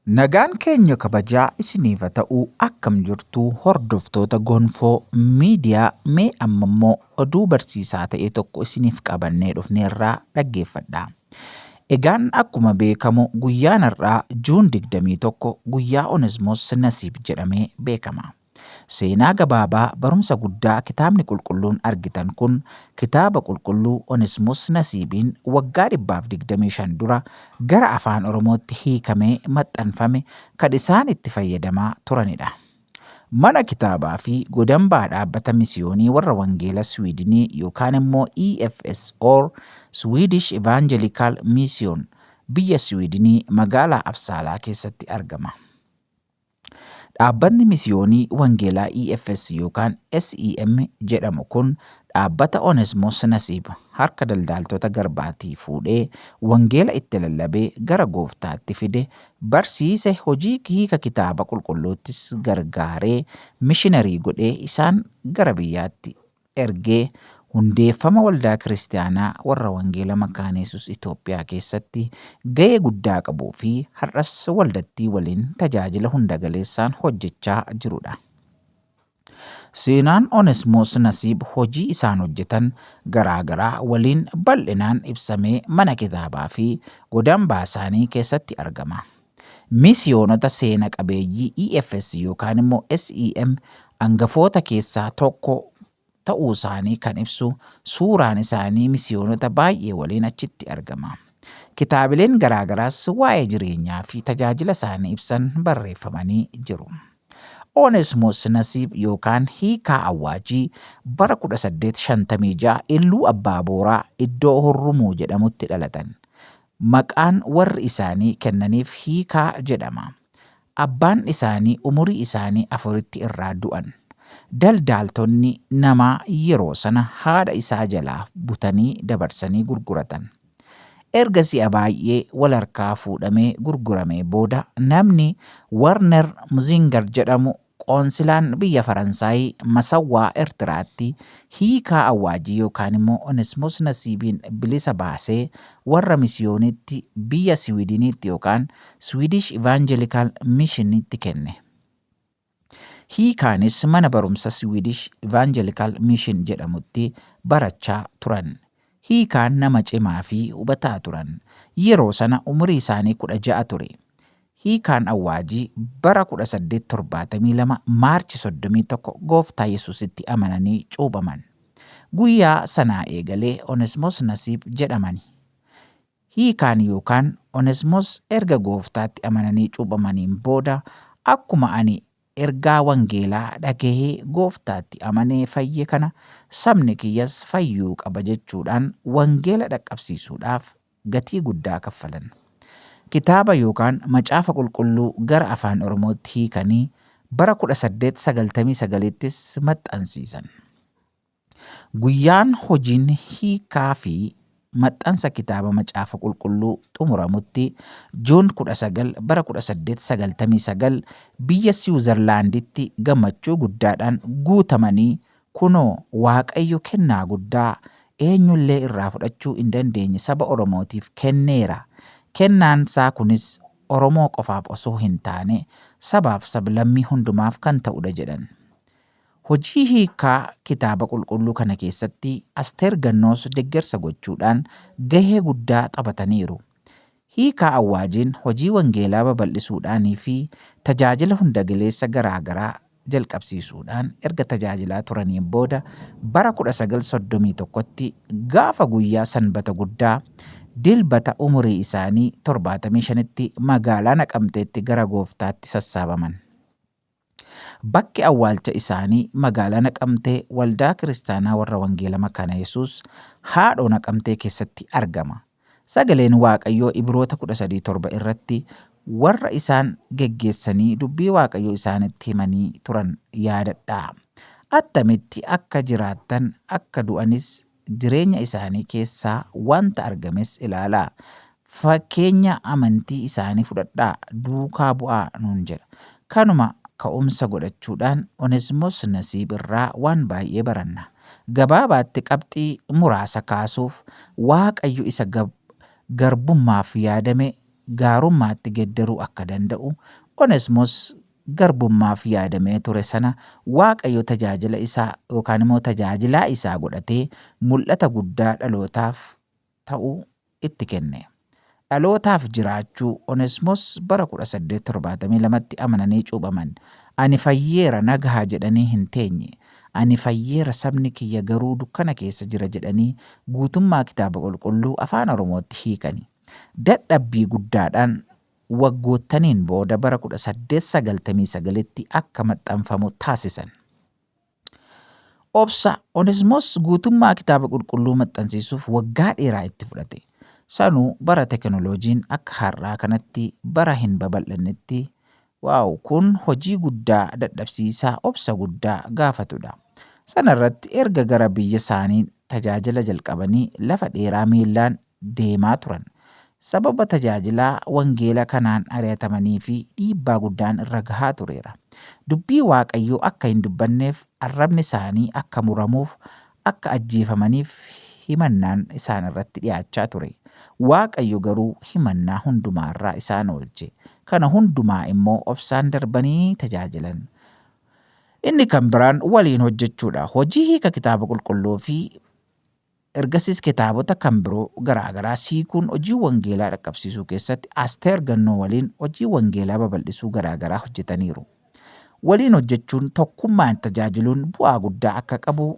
Nagaan keenya kabajaa isiniif haa ta'u akkam jirtu hordoftoota gonfoo miidiyaa mee amma immoo oduu barsiisaa ta'e tokko isiniif qabannee dhufneerraa dhaggeeffadhaa. Egaan akkuma beekamu guyyaan har'aa Juun 21 guyyaa Onesmoos Nasiib jedhamee beekama. Seenaa gabaabaa barumsa guddaa Kitaabni Qulqulluun argitan kun Kitaaba Qulqulluu Onesmus Nasiibiin waggaa 125 dura gara Afaan Oromootti hiikamee maxxanfame kan isaan itti fayyadamaa turanidha. Mana Kitaabaa fi Godambaa Dhaabbata Misiyoonii Warra Wangeela Swiidinii yookaan immoo EFS or Swedish Evangelical Mission biyya Swiidinii magaalaa Absaalaa keessatti argama. Dhaabbatni Misiyoonii Wangeelaa EFS yookaan SEM jedhamu kun dhaabbata Onesmos Nasiib harka daldaaltota garbaatii fuudhee wangeela itti lallabee gara gooftaatti fide, barsiise, hojii hiika kitaaba qulqulluuttis gargaaree mishinarii godhee isaan gara biyyaatti ergee hundeeffama Waldaa Kiristiyaanaa Warra Wangeela Makaana Yesuus Itoophiyaa keessatti ga'ee guddaa qabuu fi har'as waldattii waliin tajaajila hunda galeessaan hojjechaa jiru dha. Seenaan Onesmoos Nasiib hojii isaan hojjetan garaa garaa waliin bal'inaan ibsamee mana kitaabaa fi godambaa isaanii keessatti argama. Misiyoonota seena qabeeyyii EFS yookaan immoo SEM angafoota keessaa tokko ta'uu isaanii kan ibsu suuraan isaanii misiyoonota baay'ee waliin achitti argama. Kitaabileen garaagaraas waa'ee jireenyaa fi tajaajila isaanii ibsan barreeffamanii jiru. Onesmos Nasiib yookaan Hiikaa Awwaajii bara 1856 Illuu Abbaa Booraa iddoo Hurrumuu jedhamutti dhalatan. Maqaan warri isaanii kennaniif Hiikaa jedhama. Abbaan isaanii umurii isaanii afuritti irraa du'an. Daldaaltonni namaa yeroo sana haadha isaa jalaa butanii dabarsanii gurguratan. Erga si'a baay'ee wal harkaa fuudhamee gurguramee booda namni Warner Muzinger jedhamu Qoonsilaan biyya Faransaay masawwaa Ertiraatti hiikaa awwaajii yookaan immoo Onesmoos Nasiibiin bilisa baasee warra misiyooniitti biyya Siwiidiniitti yookaan Swedish Evangelical Missionitti kenne. Hiikaanis mana barumsa Swedish Evangelical Mission jedhamutti barachaa turan. Hiikaan nama cimaa fi hubataa turan. Yeroo sana umurii isaanii kudha ja'a ture. Hiikaan Awwaajii bara 1872 March 31 Gooftaa Yesuusitti amananii cuuphaman. Guyyaa sanaa eegalee Onesmos Nasiib jedhamani. Hiikaan yookaan Onesmos erga Gooftaatti amananii cuuphamaniin booda akkuma ani Ergaa wangeelaa dhagahee Gooftaatti amanee fayye kana sabni kiyyas fayyuu qaba jechuudhaan wangeela dhaqqabsiisuudhaaf gatii guddaa kaffalan. Kitaaba yookaan Macaafa Qulqulluu gara Afaan Oromootti hiikanii bara 1899ttis maxxansiisan. Guyyaan hojiin hiikaa fi maxxansa kitaaba Macaafa Qulqulluu xumuramutti Juun 19 bara 1899 biyya Siwuzarlaanditti gammachuu guddaadhaan guutamanii kunoo Waaqayyo kennaa guddaa eenyullee irraa fudhachuu hin dandeenye saba Oromootiif kenneera. Kennaan isaa kunis Oromoo qofaaf osoo hin taane sabaaf sablammii hundumaaf kan ta'udha jedhan. Hojii hiikkaa Kitaaba Qulqulluu kana keessatti Asteer Gannoos deggersa gochuudhaan gahee guddaa taphataniiru. Hiikaa Awwaajiin hojii wangeelaa babal'isuudhaanii fi tajaajila hundagaleessa garaa garaa jalqabsiisuudhaan erga tajaajilaa turaniin booda bara 1931tti gaafa guyyaa Sanbata Guddaa, Dilbata umurii isaanii 75tti magaalaa Naqamteetti gara Gooftaatti sassaabaman. Bakki awwaalcha isaanii magaalaa Naqamtee Waldaa Kiristaanaa Warra Wangeela Makaana Yesuus Haadhoo Naqamtee keessatti argama. Sagaleen Waaqayyoo Ibiroota 13 7 irratti warra isaan geggeessanii dubbii Waaqayyoo isaanitti himanii turan yaadadhaa. Attamitti akka jiraattan akka du'anis jireenya isaanii keessaa wanta argames ilaalaa. Fakkeenya amantii isaanii fudhadhaa, duukaa bu'aa nuun jedha. Kanuma ka'umsa godhachuudhaan Onesmos Nasiib irraa waan baay'ee baranna. Gabaabaatti qabxii muraasa kaasuuf, Waaqayyo isa garbummaaf yaadame gaarummaatti geddaruu akka danda'u Onesmos garbummaaf yaadamee ture sana Waaqayyo tajaajila isaa yookaan immoo tajaajilaa isaa godhatee mul'ata guddaa dhalootaaf ta'u itti kenne. Dhalootaaf jiraachuu Onesmos bara 1872tti amananii cuuphaman. Ani fayyeera nagaha jedhanii hin teenye. Ani fayyeera sabni kiyya garuu dukkana keessa jira jedhanii guutummaa kitaaba qulqulluu afaan Oromootti hiikani. Dadhabbii guddaadhaan waggoottaniin booda bara 1899tti akka maxxanfamu taasisan. Obsa Onesmoos guutummaa Kitaaba Qulqulluu maxxansiisuuf waggaa dheeraa itti fudhate. Sanuu bara teknoloojiin akka har'aa kanatti bara hin babal'annetti Waaw kun hojii guddaa dadhabsiisaa obsa guddaa gaafatudha. Sana irratti erga gara biyya isaanii tajaajila jalqabanii lafa dheeraa miillaan deemaa turan sababa tajaajila wangeela kanaan ari'atamanii fi dhiibbaa guddaan irra gahaa tureera. Dubbii Waaqayyoo akka hin dubbanneef, arrabni isaanii akka muramuuf, akka ajjeefamaniif himannaan isaan irratti dhi'aachaa ture. Waaqayyo garuu himannaa hundumaa irraa isaan oolche. Kana hundumaa immoo obsaan darbanii tajaajilan. Inni kan biraan waliin hojjechuudha. Hojii Hiika Kitaaba Qulqulluu fi Ergasiis kitaabota kan biroo garaa garaas hiikuun hojii wangeelaa dhaqqabsiisuu keessatti Asteer Gannoo waliin hojii wangeelaa babal'isuu garaa garaa hojjetaniiru. Waliin hojjechuun tokkummaan tajaajiluun bu'aa guddaa akka qabu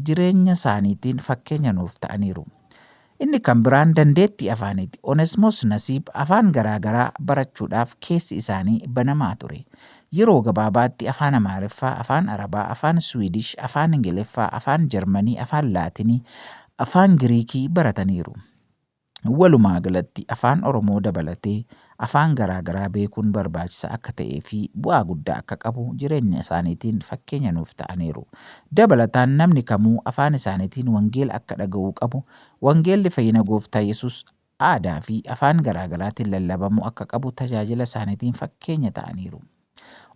jireenya isaaniitiin fakkeenya nuuf ta'aniiru. Inni kan biraan dandeettii afaaniiti. Onesmoos Nasiib afaan garaa garaa barachuudhaaf keessi isaanii banamaa ture. Yeroo gabaabaatti Afaan Amaariffaa, Afaan Arabaa, Afaan Siwiidish, Afaan Ingiliffaa, Afaan Jarmanii, Afaan Laatinii, Afaan Giriikii barataniiru. Walumaagalatti Afaan Oromoo dabalatee afaan garaagaraa beekuun barbaachisaa akka ta'eefi bu'aa guddaa akka qabu jireenyasaaniitiin fakkeenya nuuf ta'aniiru. Dabalataan namni kamuu afaan isaaniitiin wangeela akka dhaga'uu qabu, wangeelli fayyina Gooftaa Yesus aadaa fi afaan garaagaraatiin lallabamuu akka qabu tajaajila isaaniitiin fakkeenya ta'aniiru.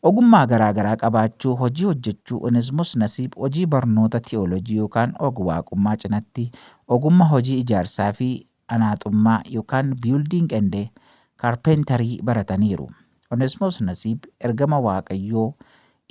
Ogummaa garaagaraa qabaachuu, hojii hojjechuu, Onesmus Nasiib hojii barnoota ti'oolojii yookaan og-waaqummaa cinatti ogumma hojii ijaarsaa fi anaaxummaa yookaan building and carpentry barataniiru. Onesmoos Nasiib ergama Waaqayyoo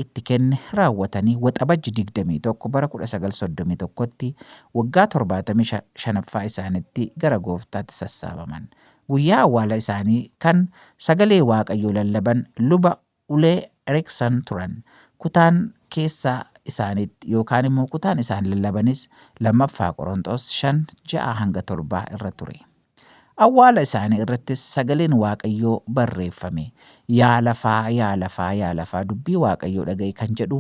itti kenne raawwatanii Waxabajji 21 bara 1931tti waggaa 75ffaa isaanitti gara gooftaatti sassaabaman. Guyyaa awwaala isaanii kan sagalee Waaqayyoo lallaban luba Ulee Erikson turan. Kutaan keessaa isaaniitti yookaan immoo kutaan isaan lallabanis 2ffaa Qoronxoos 5, 6-7 irra ture. Awwaala isaanii irrattis sagaleen Waaqayyoo barreeffame. Yaa lafaa, yaa lafaa, yaa lafaa dubbii Waaqayyoo dhaga'i kan jedhu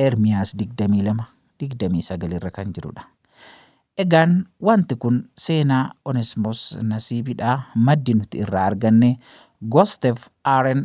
Ermiyaas 22, 29 irra kan jirudha. Egaan wanti kun seenaa Onesmos Nasiibidha. Maddi nuti irraa arganne Gostev Aren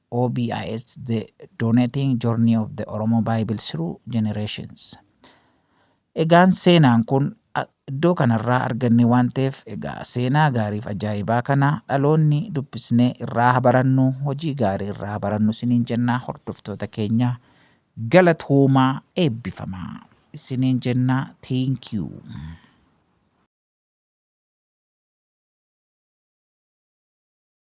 OBIS The Donating Journey of the Oromo Bible Through Generations Egaan seenaan kun iddoo kanarraa arganne waan ta'eef egaa seenaa gaariif ajaa'ibaa kana dhaloonni dubbisnee irraa habarannu hojii gaarii irraa habarannu isiniin jennaa hordoftoota keenya galatoomaa eebbifamaa isiniin jennaa thank you.